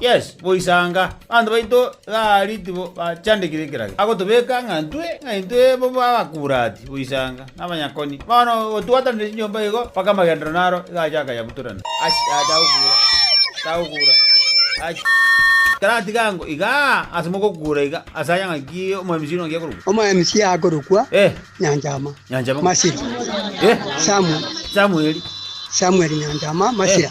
Yes, boisanga. Abanto baito tari tibo bachandekire ekeragera. Agotobeka ng'a ntwe, ng'a intwe bobe abakurati, boisanga, na abanyakoni. Bono gotwatanire chinyomba igo, mpaka amagenderero naro igacha akanyabutorana. Achi, aye tagokura, tagokura. Achi. Taratiga ango igaa, ase mogokura iga, ase aya ng'a ki omoMC ore ng'a ki akorokwa? OmoMC akorokwa Eh, Nyanchama Nyanchama. Masira. Eh, Samu- Samueli. Samuel Nyanchama Masira.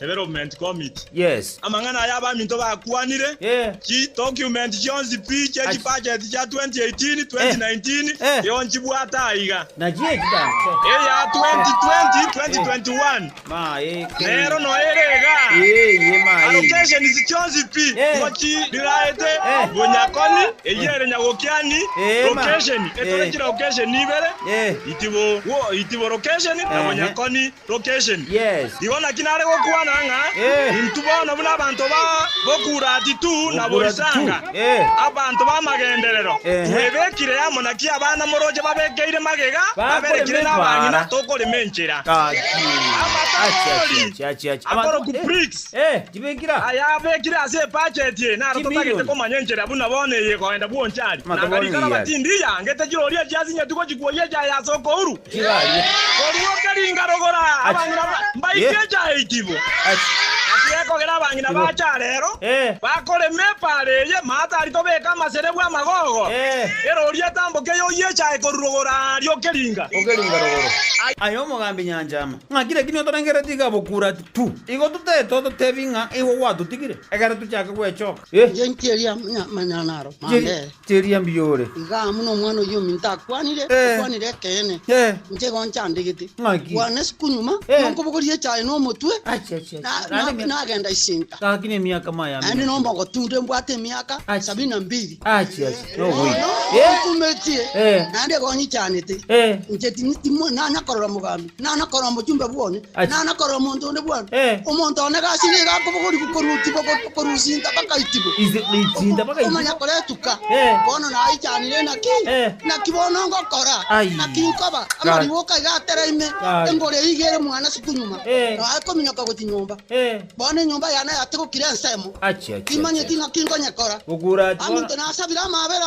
Development Committee. Yes. Amang'ana aya abaminto bakwanire, Eh. chi document chionsi pi chie Ach. chibudget chia 2018, 2019 Eh. eo nchibwate aiga. Nachio echi danto. Eya 2020, 2021 Ma e ke. nero noyo ere iga. Eh, ye ma e. Allocations chionsi pi Eh. ngochi riraete Eh. bonyakoni, eyio ere nyagokiani, Eh, ma. location, etore Eh. chilaucation ibere, Eh. itibo, wo, itibo location, na Ehe. bonyakoni. location. Yes. Igo naki nare gokwana ng'a Eh. intwe bono buna abanto ba Bokurati tu na Bokurati tu. Borisanga, Eh. abanto b'amagenderero, Ehe. twebekire amo, naki abana moroche babekeire magega, Bakorema baberekire n'abang'ina, ebara. tokorema enchera. Gaki. Amatori. Achi, achi, achi, achi, achi. Abanto- Akoroku eh, bricks. Eh, chibekira. Aya abekire ase ebudget eye, naro Chimilioni. totagete komanya enchera buna bono eye egoenda bwonchari. Amatori Nanga rikara bati, ndiya, ngete chiroria chiasinyetu gochikuoyia echiaye ase okouru. Koruoka ringa rogora abang'ina ba mbaike echa eitibo. Naki gekogera abang'ina ba acha arero bakorema epaara eye, maata ari tobeke amaserebu amagogo, erori etamboke yoyia echae korwa rogora arioke ringa. Ai. Aye omogambi nyancha ama, ng'aki lakini otorengereri tiga bokura ati pu! Igo totaete ototebi ng'a igo gwatotigire, ekero tochake gwechoka. Ee. Engencho eria manya manyara naro mambere. Chiria mbiore. Iga amo n'omwana oyio ominto akwanire, okwanire ekeene, inche igo nchandegete. Bwana isiko nyuma, nonkobogoria echaye na omotwe, nagenda isinta. Naende nomogotunda embwate emiaka sabini na mbiri. Nogo ontumetie, naende igo onyichanete, inche tindi timo nanya korora mogambi. Nano korora omochie ombe bwone, Achi. nano korora omonto onde bwone. Eh. Omonto one gasi nigo akobogorigwa korutigwa go- korusinta bakaitibwa. Ise goisinta bakaitibwa. Omanya koretuka. Eh. Bono naichanire naki? Eh. Naki bono ngokora? Ai. Naki nkoba? Amarigwe okaiga atera ime, Ai. engori eyige ere mwana asuku nyuma. Eh. Noe kominyoka gochia nyomba. Eh. Bono enyomba yane yatigokire ensemo. Achi, achi, Timanyeti achi. naki nkonyekora. Gokura ati bono. Aminto nasabire amabera.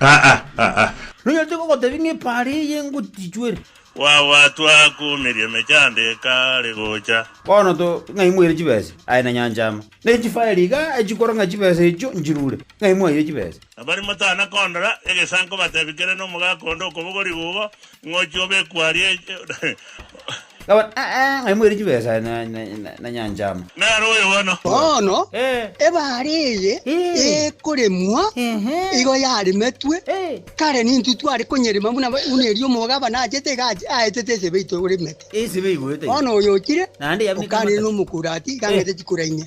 Aa, aa! Nonya tigogotebi ng'a epaara eye engotichwere. Gwagwatwa akuumirie emechando ekaare gocha. Bono to ng'ai mwaire chibesa? Aye na nyancha ama. Ne chifaeri iga echikora ng'a chibesa echio nchirure. Ng'ai mwaire chibesa? Abare motana kondora egesanko batebi kere nomogaka onde okobogori gugo, Ng'ochi obekwe aria e. Gabana, Ee, ng'ai moire chibesa na nyancha amo? Naro oyo bono. Bono, ebare eye ekoremwa igo yarimetwe kare nintwe tware konyerima buna buna erio omogabana achete iga aetete esebe yaito egorimete. Esebe igoeta ime. Bono oyo ochire, okanire nomokurati iga ang'ete chikura inye.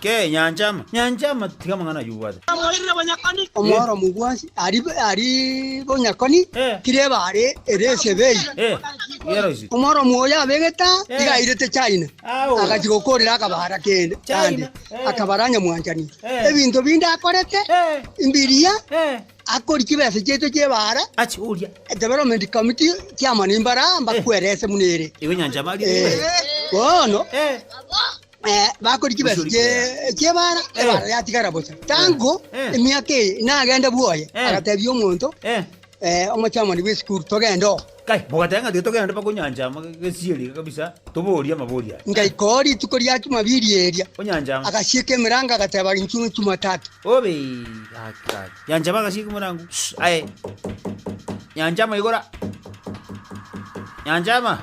Ke, nyancha ama, nyancha ama, tiga amang'ana ayio obwate. Omworomu bwonsi ari bonyakoni, kireba are ere esebei. Omworomu oyo abegete aa, tiga airete China, agachia gokoorera akabaara kende gande, akabaara nyamwanchani. Ebinto binde akorete, mbiria, akori chibesa chiaito chi'ebaara, development committee, chairman mbara, mbakwerese buna ere. Bono. Eh, bakori kibesi Gusuri kie- kera. kiebara Eh. ebara yatigara bosa tango Eh. emiaka eye nagende bwoye Eh. agatebia omonto Eh, eh, omochamani bw'esukuru togende oo kai, mogateba ng'a tiga togende mpaka onyanchama gesieri kabisa, toborie amabori aya. ngaika oo rituko ria chumabiri eria Onyanchama. agasieka emerango agateba inchu chumatatu Obe, gaki, gaki. Nyanchama agasieka omorango. Shh, aye. Nyanchama igora. Nyanchama.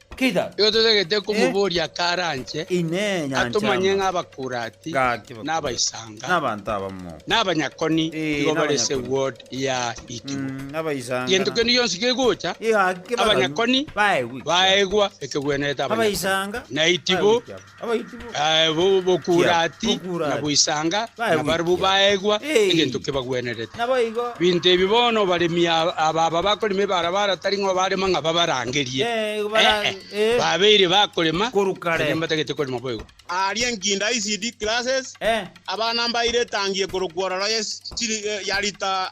Keidaru. Nigo totagete komoboria akaranche Inee, nyancha atomanye y'amagena. ng'a abakurati, Gaki na bakurati. abaisanga, Na abanto abamo. na abanyakoni Ee, nigo na bare ase abanyakoni. ward ya Ikibo. Mm, abaisanga Gento na. kende gionsi kegocha, Ee, gaki abaganu abanyakoni baegwe ekiabo. baegwa ekegwenerete abanyakoni, Abaisanga na Itibo baegwe ekiabo. Bokurati na boisanga, na barabwo baegwa egento kebagwenerete. Binto ebi bono abaremi aba bakorema ebarabara tari ng'a obarema ng'a babarangerie, ee, babeire bakorema erio mbatagete korema boigo. Aria enkinda ECD classes, abana mbaire etangie korokwa ororo ya rita